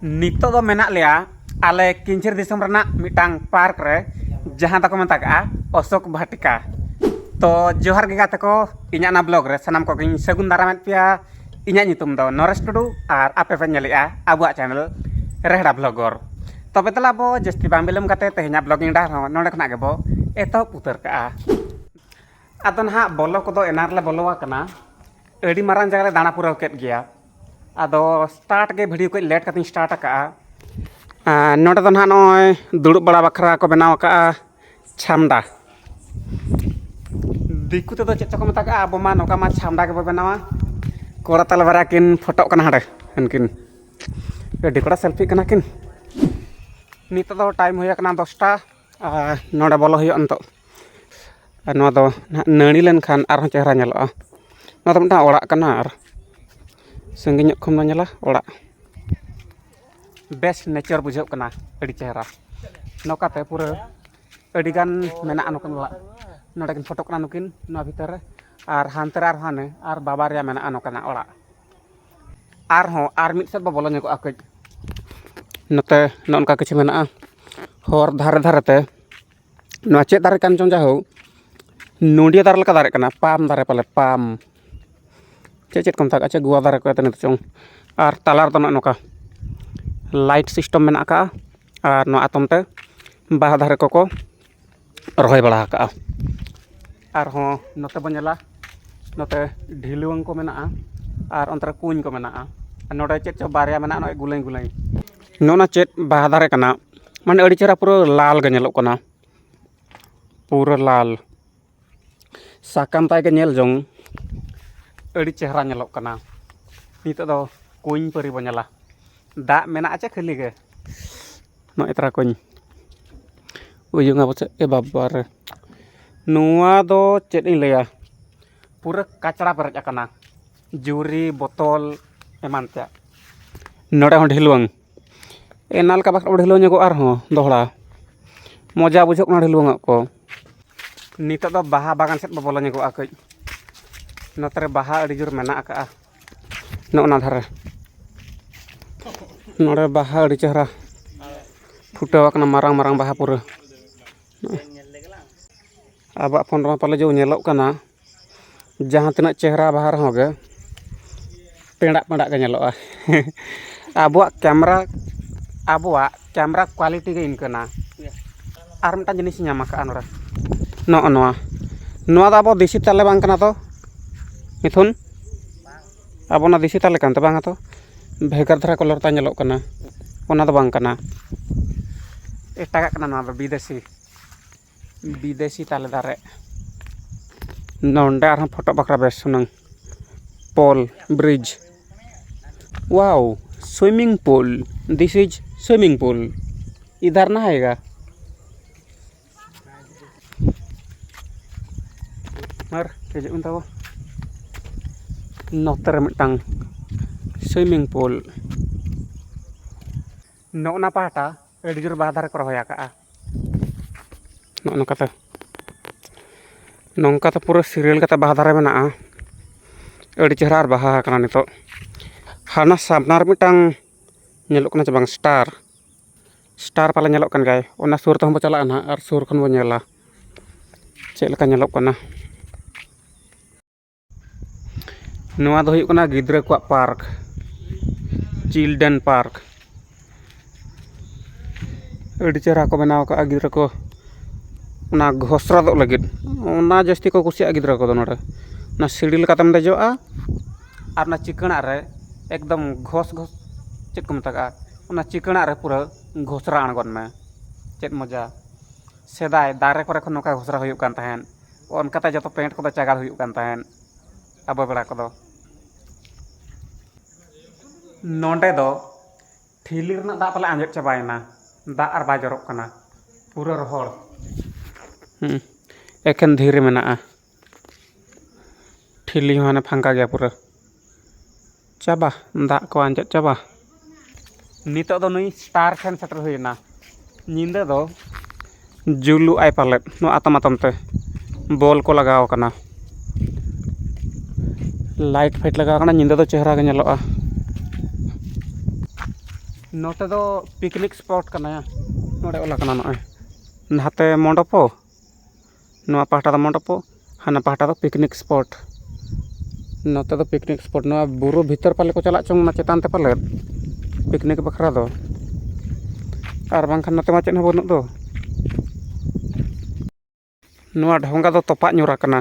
ᱱᱤᱛᱚᱜ ᱫᱚ ᱢᱮᱱᱟᱜ ᱞᱮᱭᱟ ᱟᱞᱮ ᱠᱤᱧᱡᱷᱤᱨ ᱫᱤᱥᱚᱢ ᱨᱮᱱᱟᱜ ᱢᱤᱫᱴᱟᱝ ᱯᱟᱨᱠ ᱨᱮ ᱡᱟᱦᱟᱸ ᱫᱚᱠᱚ ᱢᱮᱛᱟᱜᱟᱜᱼᱟ ᱚᱥᱳᱠ ᱵᱷᱟᱴᱤᱠᱟ ᱛᱚ ᱡᱚᱦᱟᱨ ᱜᱮ ᱜᱟᱛᱮ ᱠᱚ ᱤᱧᱟᱹᱜ ᱚᱱᱟ ᱵᱞᱚᱜᱽ ᱨᱮ ᱥᱟᱱᱟᱢ ᱠᱚᱜᱮᱧ ᱥᱟᱹᱜᱩᱱ ᱫᱟᱨᱟᱢᱮᱫ ᱯᱮᱭᱟ ᱤᱧᱟᱹᱜ ᱧᱩᱛᱩᱢ ᱫᱚ ᱱᱚᱨᱮᱥ ᱴᱩᱰᱩ ᱟᱨ ᱟᱯᱮ ᱯᱮ ᱧᱮᱞᱮᱜᱼᱟ ᱟᱵᱚᱣᱟᱜ ᱪᱮᱱᱮᱞ ᱨᱮᱦᱲᱟ ᱵᱞᱚᱜᱚᱨ ᱛᱚᱵᱮ ᱫᱮᱞᱟ ᱟᱵᱚ ᱡᱟᱹᱥᱛᱤ ᱵᱟᱝ ᱵᱤᱞᱚᱢ ᱠᱟᱛᱮ ᱛᱮᱦᱮᱧᱟᱜ ᱵᱞᱚᱜᱤᱝ ᱰᱟᱦᱟᱨ ᱦᱚᱸ ᱱᱚᱰᱮ ᱠᱷᱚᱱᱟᱜ ᱜᱮᱵᱚ ᱮᱛᱚᱦᱚᱵ ᱩᱛᱟᱹᱨ ᱠᱟᱜᱼᱟ ᱟᱫᱚ ᱱᱟᱦᱟᱜ ᱵᱚᱞᱚ ᱠᱚᱫᱚ ᱮᱱᱟᱝ ᱨᱮᱞᱮ ᱵᱚᱞᱚ ᱟᱠᱟᱱᱟ ᱟᱹᱰᱤ ᱢᱟᱨᱟᱝ ᱡᱟᱭᱜᱟ ᱞᱮ ᱫᱟᱬᱟ ᱯᱩᱨᱟᱹᱣ ᱠᱮᱫ ᱜᱮᱭᱟ ᱟᱫᱚ ᱥᱴᱟᱨᱴ ᱜᱮ ᱵᱷᱤᱰᱤᱭᱳ ᱠᱚ ᱞᱮᱴ ᱠᱟᱛᱮᱧ ᱥᱴᱟᱨᱴ ᱟᱠᱟᱜᱼᱟ ᱱᱚᱰᱮ ᱫᱚ ᱱᱟᱦᱟᱜ ᱱᱚᱜᱼᱚᱭ ᱫᱩᱲᱩᱵ ᱵᱟᱲᱟ ᱵᱟᱠᱷᱨᱟ ᱠᱚ ᱵᱮᱱᱟᱣ ᱟᱠᱟᱜᱼᱟ ᱪᱷᱟᱢᱰᱟ ᱫᱤᱠᱩ ᱛᱮᱫᱚ ᱪᱮᱫ ᱪᱚᱠᱚ ᱢᱮᱛᱟᱜᱼᱟ ᱟᱵᱚ ᱢᱟ ᱱᱚᱝᱠᱟ ᱢᱟ ᱪᱷᱟᱢᱰᱟ ᱜᱮᱵᱚ ᱵᱮᱱᱟᱣᱟ ᱠᱚᱲᱟ ᱛᱟᱞᱮ ᱵᱟᱨᱭᱟ ᱠᱤᱱ ᱯᱷᱳᱴᱳᱜ ᱠᱟᱱᱟ ᱦᱟᱸᱰᱮ ᱩᱱᱠᱤᱱ ᱟᱹᱰᱤ ᱠᱚᱲᱟ ᱥᱮᱞᱯᱷᱤᱜ ᱠᱟᱱᱟ ᱠᱤᱱ ᱱᱤᱛᱚᱜ ᱫᱚ ᱴᱟᱭᱤᱢ ᱦᱩᱭ ᱟᱠᱟᱱᱟ ᱫᱚᱥᱴᱟ ᱟᱨ ᱱᱚᱰᱮ ᱵᱚᱞᱚ ᱦᱩᱭᱩᱜᱼᱟ ᱱᱤᱛᱚᱜ ᱟᱨ ᱱᱚᱣᱟ ᱫᱚ ᱱᱟᱦᱟᱜ ᱱᱟᱹᱲᱤ ᱞᱮᱱᱠᱷᱟᱱ ᱟᱨᱦᱚᱸ ᱪᱮᱦᱨᱟ ᱧᱮᱞᱚᱜᱼᱟ ᱱᱚᱣᱟ ᱫᱚ ᱢᱤᱫᱴᱟᱝ ᱚᱲᱟᱜ ᱠᱟᱱᱟ ᱟᱨ ᱥᱟᱺᱜᱤᱧ ᱧᱚᱜ ᱠᱷᱚᱱ ᱵᱚᱱ ᱧᱮᱞᱟ ᱚᱲᱟᱜ ᱵᱮᱥ ᱱᱮᱪᱟᱨ ᱵᱩᱡᱷᱟᱹᱜ ᱠᱟᱱᱟ ᱟᱹᱰᱤ ᱪᱮᱦᱨᱟ ᱱᱚᱝᱠᱟᱛᱮ ᱯᱩᱨᱟᱹ ᱟᱹᱰᱤᱜᱟᱱ ᱢᱮᱱᱟᱜᱼᱟ ᱱᱚᱝᱠᱟᱱ ᱚᱲᱟᱜ ᱱᱚᱰᱮ ᱠᱤᱱ ᱯᱷᱳᱴᱳᱜ ᱠᱟᱱᱟ ᱱᱩᱠᱤᱱ ᱱᱚᱣᱟ ᱵᱷᱤᱛᱟᱹᱨ ᱨᱮ ᱟᱨ ᱦᱟᱱᱛᱮ ᱨᱮ ᱟᱨᱦᱚᱸ ᱦᱟᱱᱮ ᱟᱨ ᱵᱟᱵᱟ ᱨᱮᱭᱟᱜ ᱢᱮᱱᱟᱜᱼᱟ ᱱᱚᱝᱠᱟᱱᱟᱜ ᱚᱲᱟᱜ ᱟᱨᱦᱚᱸ ᱟᱨ ᱢᱤᱫ ᱥᱮᱫ ᱵᱚᱱ ᱵᱚᱞᱚ ᱧᱚᱜᱚᱜᱼᱟ ᱠᱟᱹᱡ ᱱᱚᱛᱮ ᱱᱚᱜᱼᱚ ᱱᱚᱝᱠᱟ ᱠᱤᱪᱷᱩ ᱢᱮᱱᱟᱜᱼᱟ ᱦᱚᱨ ᱫᱷᱟᱨᱮ ᱫᱷᱟᱨᱮ ᱛᱮ ᱱᱚᱣᱟ ᱪᱮᱫ ᱫᱟᱨᱮ ᱠᱟᱱ ᱪᱚᱝ ᱡᱟᱭᱦᱳᱠ ᱱᱚᱰᱤᱭᱟᱹ ᱫᱟᱨᱮ ᱞᱮᱠᱟ ᱫᱟᱨᱮᱜ ᱠᱟᱱᱟ ᱯᱟᱢ ᱫᱟᱨᱮ ᱯᱟᱞᱮ ᱯᱟᱢ ᱪᱮᱫ ᱪᱮᱫ ᱠᱚ ᱢᱮᱛᱟᱜ ᱟᱪᱪᱷᱟ ᱜᱩᱣᱟᱹ ᱫᱟᱨᱮ ᱠᱚ ᱢᱮᱛᱟᱜ ᱪᱚᱝ ᱟᱨ ᱛᱟᱞᱟ ᱨᱮᱫᱚ ᱱᱚᱜᱼᱚ ᱱᱚᱝᱠᱟ ᱞᱟᱭᱤᱴ ᱥᱤᱥᱴᱮᱢ ᱢᱮᱱᱟᱜ ᱠᱟᱜᱼᱟ ᱟᱨ ᱱᱚᱣᱟ ᱮᱛᱚᱢ ᱛᱮ ᱵᱟᱦᱟ ᱫᱟᱨᱮ ᱠᱚᱠᱚ ᱨᱚᱦᱚᱭ ᱵᱟᱲᱟ ᱟᱠᱟᱜᱼᱟ ᱟᱨᱦᱚᱸ ᱱᱚᱛᱮ ᱵᱚᱱ ᱧᱮᱞᱟ ᱱᱚᱛᱮ ᱰᱷᱤᱞᱣᱟᱹᱝ ᱠᱚ ᱢᱮᱱᱟᱜᱼᱟ ᱟᱨ ᱚᱱᱛᱮ ᱨᱮ ᱠᱩᱧ ᱠᱚ ᱢᱮᱱᱟᱜᱼᱟ ᱟᱨ ᱱᱚᱰᱮ ᱪᱮᱫ ᱪᱚᱝ ᱵᱟᱨᱭᱟ ᱢᱮᱱᱟᱜᱼᱟ ᱱᱚᱜᱼᱚᱸᱭ ᱜᱩᱞᱟᱹᱭ ᱜᱩᱞᱟᱹᱭ ᱱᱚᱜᱼᱚᱸᱭ ᱱᱟ ᱪᱮᱫ ᱵᱟᱦᱟ ᱫᱟᱨᱮ ᱠᱟᱱᱟ ᱢᱟᱱᱮ ᱟᱹᱰᱤ ᱪᱮᱦᱨᱟ ᱯᱩᱨᱟᱹ ᱞᱟᱞ ᱜᱮ ᱧᱮᱞᱚᱜ ᱠᱟᱱᱟ ᱯᱩᱨᱟᱹ ᱞᱟᱞ ᱥᱟᱠᱟᱢ ᱛᱟᱭ ᱜᱮ ᱧᱮᱞ ᱡᱚᱝ ᱟᱹᱰᱤ ᱪᱮᱦᱨᱟ ᱧᱮᱞᱚᱜ ᱠᱟᱱᱟ ᱱᱤᱛᱚᱜ ᱫᱚ ᱠᱩᱧ ᱯᱟᱹᱨᱤ ᱵᱚᱱ ᱧᱮᱞᱟ ᱫᱟᱜ ᱢᱮᱱᱟᱜᱼᱟ ᱪᱮ ᱠᱷᱟᱹᱞᱤ ᱜᱮ ᱱᱚᱜᱼᱚᱸᱭ ᱛᱚᱨᱟ ᱠᱩᱧ ᱩᱭᱩᱝᱟ ᱯᱟᱪᱮᱫ ᱮ ᱵᱟᱵᱟᱨᱮ ᱱᱚᱣᱟ ᱫᱚ ᱪᱮᱫ ᱤᱧ ᱞᱟᱹᱭᱟ ᱯᱩᱨᱟᱹ ᱠᱟᱪᱲᱟ ᱯᱮᱨᱮᱡ ᱟᱠᱟᱱᱟ ᱡᱩᱨᱤ ᱵᱚᱛᱚᱞ ᱮᱢᱟᱱ ᱛᱮᱭᱟᱜ ᱱᱚᱰᱮ ᱦᱚᱸ ᱰᱷᱤᱞᱣᱟᱹᱝ ᱮᱱᱟᱱ ᱞᱮᱠᱟ ᱵᱟᱠᱷᱟᱱ ᱵᱚᱱ ᱰᱷᱤᱞᱟᱹᱣ ᱧᱚᱜᱚᱜᱼᱟ ᱟᱨᱦᱚᱸ ᱫᱚᱦᱲᱟ ᱢᱚᱡᱟ ᱵᱩᱡᱷᱟᱹᱜ ᱠᱟᱱᱟ ᱰᱷᱤᱞᱟᱹᱣ ᱧᱚᱜ ᱠᱚ ᱱᱤᱛᱚᱜ ᱫᱚ ᱵᱟᱦᱟ ᱵᱟᱜᱟᱱ ᱥᱮᱫ ᱵᱚᱱ ᱵᱚᱞᱚ ᱧᱚᱜᱚᱜᱼᱟ ᱠᱟᱹᱡ ᱱᱚᱛᱮ ᱨᱮ ᱵᱟᱦᱟ ᱟᱹᱰᱤ ᱡᱳᱨ ᱢᱮᱱᱟᱜ ᱠᱟᱜᱼᱟ ᱱᱚᱜᱼᱚ ᱱᱟ ᱫᱷᱟᱨᱮ ᱱᱚᱰᱮ ᱵᱟᱦᱟ ᱟᱹᱰᱤ ᱪᱮᱦᱨᱟ ᱯᱷᱩᱴᱟᱹᱣ ᱠᱟᱱᱟ ᱢᱟᱨᱟᱝ ᱢᱟᱨᱟᱝ ᱵᱟᱦᱟ ᱯᱩᱨᱟᱹ ᱟᱵᱚᱣᱟᱜ ᱯᱷᱳᱱ ᱨᱮᱢᱟ ᱯᱟᱞᱮ ᱡᱚ ᱧᱮᱞᱚᱜ ᱠᱟᱱᱟ ᱡᱟᱦᱟᱸ ᱛᱤᱱᱟᱹᱜ ᱪᱮᱦᱨᱟ ᱵᱟᱦᱟ ᱨᱮᱦᱚᱸ ᱜᱮ ᱯᱮᱸᱰᱟᱜ ᱯᱮᱸᱰᱟᱜ ᱜᱮ ᱧᱮᱞᱚᱜᱼᱟ ᱟᱵᱚᱣᱟᱜ ᱠᱮᱢᱮᱨᱟ ᱟᱵᱚᱣᱟᱜ ᱠᱮᱢᱮᱨᱟ ᱠᱚᱣᱟᱞᱤᱴᱤ ᱜᱮ ᱤᱱᱠᱟᱹᱱᱟ ᱟᱨ ᱢᱤᱫᱴᱟᱱ ᱡᱤᱱᱤᱥ ᱤᱧ ᱧᱟᱢ ᱠᱟᱜᱼᱟ ᱱᱚᱰᱮ ᱱᱚᱜᱼᱚ ᱱᱚᱣᱟ ᱱᱚᱣᱟ ᱫᱚ ᱟᱵᱚ ᱫᱮᱥᱤ ᱛᱟᱞᱮ ᱵᱟᱝ ᱠᱟᱱᱟ ᱛᱚ ᱢᱤᱛᱷᱩᱱ ᱟᱵᱚ ᱚᱱᱟ ᱫᱮᱥᱤ ᱛᱟᱞᱮ ᱠᱟᱱ ᱛᱟᱵᱚᱱᱟ ᱛᱚ ᱵᱷᱮᱜᱟᱨ ᱫᱷᱟᱨᱟ ᱠᱟᱞᱟᱨ ᱛᱟᱭ ᱧᱮᱞᱚᱜ ᱠᱟᱱᱟ ᱚᱱᱟ ᱫᱚ ᱵᱟᱝ ᱠᱟᱱᱟ ᱮᱴᱟᱜᱟᱜ ᱠᱟᱱᱟ ᱱᱚᱣᱟ ᱫᱚ ᱵᱤᱫᱮᱥᱤ ᱵᱤᱫᱮᱥᱤ ᱛᱟᱞᱮ ᱫᱟᱨᱮ ᱱᱚᱰᱮ ᱟᱨᱦᱚᱸ ᱯᱷᱳᱴᱳ ᱵᱟᱠᱷᱨᱟ ᱵᱮᱥ ᱦᱩᱱᱟᱹᱝ ᱯᱳᱞ ᱵᱨᱤᱡᱽ ᱳᱣᱟᱣ ᱥᱩᱭᱢᱤᱝ ᱯᱩᱞ ᱫᱤᱥ ᱤᱡᱽ ᱥᱩᱭᱢᱤᱝ ᱯᱩᱞ ᱤᱫᱷᱟᱨ ᱱᱟ ᱟᱭᱮᱜᱟ ᱟᱨ ᱦᱤᱡᱩᱜ ᱵᱤᱱ ᱛᱟᱵᱚ ᱱᱚᱛᱮ ᱨᱮ ᱢᱤᱫᱴᱟᱝ ᱥᱩᱭᱢᱤᱝ ᱯᱩᱞ ᱱᱚᱜᱼᱚ ᱱᱟ ᱯᱟᱦᱴᱟ ᱟᱹᱰᱤ ᱡᱳᱨ ᱵᱟᱦᱟ ᱫᱟᱨᱮ ᱠᱚ ᱨᱚᱦᱚᱭ ᱟᱠᱟᱫᱼᱟ ᱱᱚᱜᱼᱚ ᱱᱚᱝᱠᱟ ᱛᱮ ᱱᱚᱝᱠᱟ ᱛᱮ ᱯᱩᱨᱟᱹ ᱥᱤᱨᱤᱭᱟᱞ ᱠᱟᱛᱮᱫ ᱵᱟᱦᱟ ᱫᱟᱨᱮ ᱢᱮᱱᱟᱜᱼᱟ ᱟᱹᱰᱤ ᱪᱮᱦᱨᱟ ᱟᱨ ᱵᱟᱦᱟ ᱟᱠᱟᱱᱟ ᱱᱤᱛᱚᱜ ᱦᱟᱱᱟ ᱥᱟᱢᱱᱟ ᱨᱮ ᱢᱤᱫᱴᱟᱝ ᱧᱮᱞᱚᱜ ᱠᱟᱱᱟ ᱪᱮ ᱵᱟᱝ ᱥᱴᱟᱨ ᱥᱴᱟᱨ ᱯᱟᱞᱮ ᱧᱮᱞᱚᱜ ᱠᱟᱱ ᱜᱮᱭᱟᱭ ᱚᱱᱟ ᱥᱩᱨ ᱛᱮᱦᱚᱸ ᱵᱚᱱ ᱪᱟᱞᱟᱜᱼᱟ ᱦᱟᱸᱜ ᱟᱨ ᱥᱩᱨ ᱠᱷᱚᱱ ᱵᱚᱱ ᱧᱮᱞᱟ ᱪᱮᱫ ᱞᱮᱠᱟ ᱧᱮᱞᱚᱜ ᱠᱟᱱᱟ ᱱᱚᱣᱟ ᱫᱚ ᱦᱩᱭᱩᱜ ᱠᱟᱱᱟ ᱜᱤᱫᱽᱨᱟᱹ ᱠᱚᱣᱟᱜ ᱯᱟᱨᱠ ᱪᱤᱞᱰᱨᱮᱱ ᱯᱟᱨᱠ ᱟᱹᱰᱤ ᱪᱮᱦᱨᱟ ᱠᱚ ᱵᱮᱱᱟᱣ ᱠᱟᱜᱼᱟ ᱜᱤᱫᱽᱨᱟᱹ ᱠᱚ ᱚᱱᱟ ᱜᱷᱚᱥᱲᱟᱫᱚᱜ ᱞᱟᱹᱜᱤᱫ ᱚᱱᱟ ᱡᱟᱹᱥᱛᱤ ᱠᱚ ᱠᱩᱥᱤᱭᱟᱜᱼᱟ ᱜᱤᱫᱽᱨᱟᱹ ᱠᱚᱫᱚ ᱱᱚᱰᱮ ᱚᱱᱟ ᱥᱤᱲᱤ ᱞᱮᱠᱟᱛᱮᱢ ᱫᱮᱡᱚᱜᱼᱟ ᱟᱨ ᱚᱱᱟ ᱪᱤᱠᱟᱹᱲᱟᱜ ᱨᱮ ᱮᱠᱫᱚᱢ ᱜᱷᱚᱥ ᱜᱷᱚᱥ ᱪᱮᱫ ᱠᱚ ᱢᱮᱛᱟᱜᱼᱟ ᱚᱱᱟ ᱪᱤᱠᱟᱹᱲᱟᱜ ᱨᱮ ᱯᱩᱨᱟᱹ ᱜᱷᱚᱥᱲᱟ ᱟᱬᱜᱚᱱ ᱢᱮ ᱪᱮᱫ ᱢᱚᱡᱟ ᱥᱮᱫᱟᱭ ᱫᱟᱨᱮ ᱠᱚᱨᱮ ᱠᱷᱚᱱ ᱱᱚᱝᱠᱟ ᱜᱷᱚᱥᱲᱟ ᱦᱩᱭᱩᱜ ᱠᱟᱱ ᱛᱟᱦᱮᱸᱫ ᱚᱱᱠᱟᱛᱮ ᱡᱚᱛᱚ ᱯᱮᱱᱴ ᱠᱚᱫᱚ ᱪᱟᱸᱜᱟᱲ ᱦᱩᱭᱩᱜ ᱠᱟᱱ ᱛᱟᱦᱮᱸᱫ ᱟᱵᱚ ᱵᱮᱲᱟ ᱠᱚᱫᱚ ᱱᱚᱰᱮ ᱫᱚ ᱴᱷᱤᱞᱤ ᱨᱮᱱᱟᱜ ᱫᱟᱜ ᱯᱟᱞᱮ ᱟᱸᱡᱮᱫ ᱪᱟᱵᱟᱭᱮᱱᱟ ᱫᱟᱜ ᱟᱨ ᱵᱟᱭ ᱡᱚᱨᱚᱜ ᱠᱟᱱᱟ ᱯᱩᱨᱟᱹ ᱨᱚᱦᱚᱲ ᱮᱠᱷᱮᱱ ᱫᱷᱤᱨᱤ ᱢᱮᱱᱟᱜᱼᱟ ᱴᱷᱤᱞᱤ ᱦᱚᱸ ᱦᱟᱱᱮ ᱯᱷᱟᱸᱠᱟ ᱜᱮᱭᱟ ᱯᱩᱨᱟᱹ ᱪᱟᱵᱟ ᱫᱟᱜ ᱠᱚ ᱟᱸᱡᱮᱫ ᱪᱟᱵᱟ ᱱᱤᱛᱚᱜ ᱫᱚ ᱱᱩᱭ ᱥᱴᱟᱨ ᱴᱷᱮᱱ ᱥᱮᱴᱮᱨ ᱦᱩᱭᱮᱱᱟ ᱧᱤᱫᱟᱹ ᱫᱚ ᱡᱩᱞᱩᱜ ᱟᱭ ᱯᱟᱞᱮᱫ ᱱᱚᱣᱟ ᱟᱛᱟᱢ ᱟᱛᱟᱢ ᱛᱮ ᱵᱚᱞ ᱠᱚ ᱞᱟᱜᱟᱣ ᱠᱟᱱᱟ ᱞᱟᱭᱤᱴ ᱯᱷᱟᱭᱤᱴ ᱞᱟᱜᱟᱣ ᱠᱟᱱᱟ ᱧᱤᱫᱟᱹ ᱫᱚ ᱪᱮᱦᱨᱟ ᱜᱮ ᱧᱮᱞᱚᱜᱼᱟ ᱱᱚᱛᱮ ᱫᱚ ᱯᱤᱠᱱᱤᱠ ᱥᱯᱚᱴ ᱠᱟᱱᱟ ᱱᱚᱰᱮ ᱚᱞ ᱠᱟᱱᱟ ᱱᱚᱜᱼᱚᱭ ᱱᱟᱛᱮ ᱢᱚᱱᱰᱚᱯᱚ ᱱᱚᱣᱟ ᱯᱟᱦᱴᱟ ᱫᱚ ᱢᱚᱱᱰᱚᱯᱚ ᱦᱟᱱᱟ ᱯᱟᱦᱴᱟ ᱫᱚ ᱯᱤᱠᱱᱤᱠ ᱥᱯᱚᱴ ᱱᱚᱛᱮ ᱫᱚ ᱯᱤᱠᱱᱤᱠ ᱥᱯᱚᱴ ᱱᱚᱣᱟ ᱵᱩᱨᱩ ᱵᱷᱤᱛᱤᱨ ᱯᱟᱞᱮ ᱠᱚ ᱪᱟᱞᱟᱜ ᱪᱚᱝ ᱚᱱᱟ ᱪᱮᱛᱟᱱ ᱛᱮ ᱯᱟᱞᱮᱫ ᱯᱤᱠᱱᱤᱠ ᱵᱟᱠᱷᱨᱟ ᱫᱚ ᱟᱨ ᱵᱟᱝᱠᱷᱟᱱ ᱱᱚᱛᱮ ᱢᱟ ᱪᱮᱫ ᱦᱚᱸ ᱵᱟᱹᱱᱩᱜ ᱫᱚ ᱱᱚᱣᱟ ᱰᱷᱚᱸᱜᱟ ᱫᱚ ᱛᱚᱯᱟᱜ ᱧᱚᱜ ᱠᱟᱱᱟ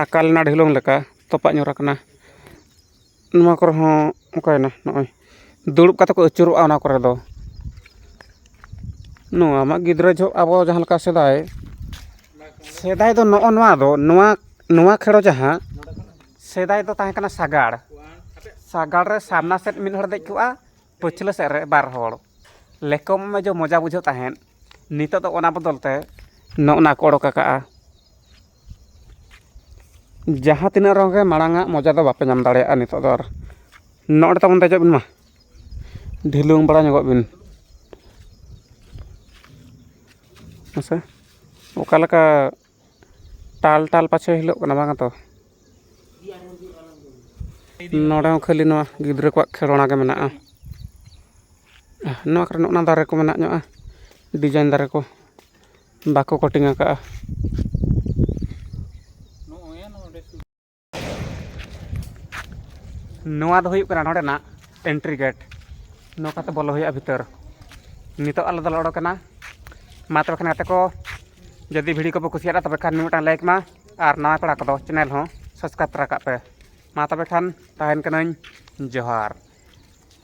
ᱟᱠᱟᱞ ᱮᱱᱟ ᱰᱷᱤᱞᱚᱢ ᱞᱮᱠᱟ ᱛᱚᱯᱟᱜ ᱧᱚᱜ ᱠᱟᱱᱟ ᱱᱚᱣᱟ ᱠᱚᱨᱮ ᱦᱚᱸ ᱚᱠᱟᱭᱮᱱᱟ ᱱᱚᱜᱼᱚᱭ ᱫᱩᱲᱩᱵ ᱠᱟᱛᱮᱫ ᱠᱚ ᱟᱹᱪᱩᱨᱚᱜᱼᱟ ᱚᱱᱟ ᱠᱚᱨᱮ ᱫᱚ ᱱᱚᱣᱟ ᱢᱟ ᱜᱤᱫᱽᱨᱟᱹ ᱡᱚᱦᱚᱜ ᱟᱵᱚ ᱡᱟᱦᱟᱸ ᱞᱮᱠᱟ ᱥᱮᱫᱟᱭ ᱥᱮᱫᱟᱭ ᱫᱚ ᱱᱚᱜᱼᱚ ᱱᱚᱣᱟ ᱫᱚ ᱱᱚᱣᱟ ᱱᱚᱣᱟ ᱠᱷᱮᱞ ᱡᱟᱦᱟᱸ ᱥᱮᱫᱟᱭ ᱫᱚ ᱛᱟᱦᱮᱸ ᱠᱟᱱᱟ ᱥᱟᱸᱜᱟᱲ ᱥᱟᱸᱜᱟᱲ ᱨᱮ ᱥᱟᱢᱱᱟ ᱥᱮᱫ ᱢᱤᱫ ᱦᱚᱲᱮ ᱫᱮᱡ ᱠᱚᱜᱼᱟ ᱯᱟᱹᱪᱷᱞᱟᱹ ᱥᱮᱫ ᱨᱮ ᱵᱟᱨ ᱦᱚᱲ ᱞᱮᱠᱚ ᱢᱮ ᱡᱮ ᱢᱚᱡᱟ ᱵᱩᱡᱷᱟᱹᱜ ᱛᱟᱦᱮᱸᱫ ᱱᱤᱛᱚᱜ ᱫᱚ ᱚᱱᱟ ᱵᱚᱫᱚᱞ ᱛᱮ ᱱᱚᱜᱼᱚ ᱱᱟ ᱠᱚ ᱚᱰᱚᱠ ᱟᱠᱟᱫᱼᱟ ᱡᱟᱦᱟᱸ ᱛᱤᱱᱟᱹᱜ ᱨᱚᱝ ᱜᱮ ᱢᱟᱲᱟᱝ ᱟᱜ ᱢᱚᱡᱟ ᱫᱚ ᱵᱟᱯᱮ ᱧᱟᱢ ᱫᱟᱲᱮᱭᱟᱜᱼᱟ ᱱᱤᱛᱚᱜ ᱫᱚ ᱟᱨ ᱱᱚᱰᱮ ᱛᱟᱵᱚᱱ ᱫᱮᱡᱚᱜ ᱵᱤᱱ ᱢᱟ ᱰᱷᱤᱞᱟᱹᱝ ᱵᱟᱲᱟ ᱧᱚᱜᱚᱜ ᱵᱤᱱ ᱦᱮᱸ ᱥᱮ ᱚᱠᱟ ᱞᱮᱠᱟ ᱴᱟᱞ ᱴᱟᱞ ᱯᱟᱪᱷᱮ ᱦᱤᱞᱳᱜ ᱠᱟᱱᱟ ᱵᱟᱝ ᱛᱚ ᱱᱚᱰᱮ ᱦᱚᱸ ᱠᱷᱟᱹᱞᱤ ᱱᱚᱣᱟ ᱜᱤᱫᱽᱨᱟᱹ ᱠᱚᱣᱟᱜ ᱠᱷᱮᱞᱳᱱᱟ ᱜᱮ ᱢᱮᱱᱟᱜᱼᱟ ᱱᱚᱣᱟ ᱠᱚᱨᱮ ᱱᱚᱜᱼᱚ ᱱᱟ ᱫᱟᱨᱮ ᱠᱚ ᱢᱮᱱᱟᱜ ᱧᱚᱜᱼᱟ ᱰᱤᱡᱟᱭᱤᱱ ᱫᱟᱨᱮ ᱠᱚ ᱵᱟᱠᱚ ᱠᱟᱴᱤᱝ ᱟᱠᱟᱫᱼᱟ ᱱᱚᱣᱟ ᱫᱚ ᱦᱩᱭᱩᱜ ᱠᱟᱱᱟ ᱱᱚᱰᱮᱱᱟᱜ ᱮᱱᱴᱨᱤ ᱜᱮᱴ ᱱᱚᱝᱠᱟᱛᱮ ᱵᱚᱞᱚ ᱦᱩᱭᱩᱜᱼᱟ ᱵᱷᱤᱛᱟᱹᱨ ᱱᱤᱛᱚᱜ ᱟᱞᱮ ᱫᱚᱞᱮ ᱚᱰᱚᱠᱮᱱᱟ ᱢᱟ ᱛᱚᱵᱮ ᱠᱷᱟᱱ ᱜᱟᱛᱮ ᱠᱚ ᱡᱩᱫᱤ ᱵᱷᱤᱰᱤᱭᱳ ᱠᱚᱯᱮ ᱠᱩᱥᱤᱭᱟᱫᱟ ᱛᱚᱵᱮ ᱠᱷᱟᱱ ᱢᱤᱫᱴᱟᱝ ᱞᱟᱭᱤᱠ ᱢᱟ ᱟᱨ ᱱᱟᱣᱟ ᱠᱚᱲᱟ ᱠᱚᱫᱚ ᱪᱮᱱᱮᱞ ᱦᱚᱸ ᱥᱟᱵᱥᱠᱨᱟᱭᱤᱵᱽ ᱛᱚᱨᱟ ᱠᱟᱜ ᱯᱮ ᱢᱟ ᱛᱚᱵᱮ ᱠᱷᱟᱱ ᱛᱟᱦᱮᱱ ᱠᱟᱹᱱᱟᱹᱧ ᱡᱚᱦᱟᱨ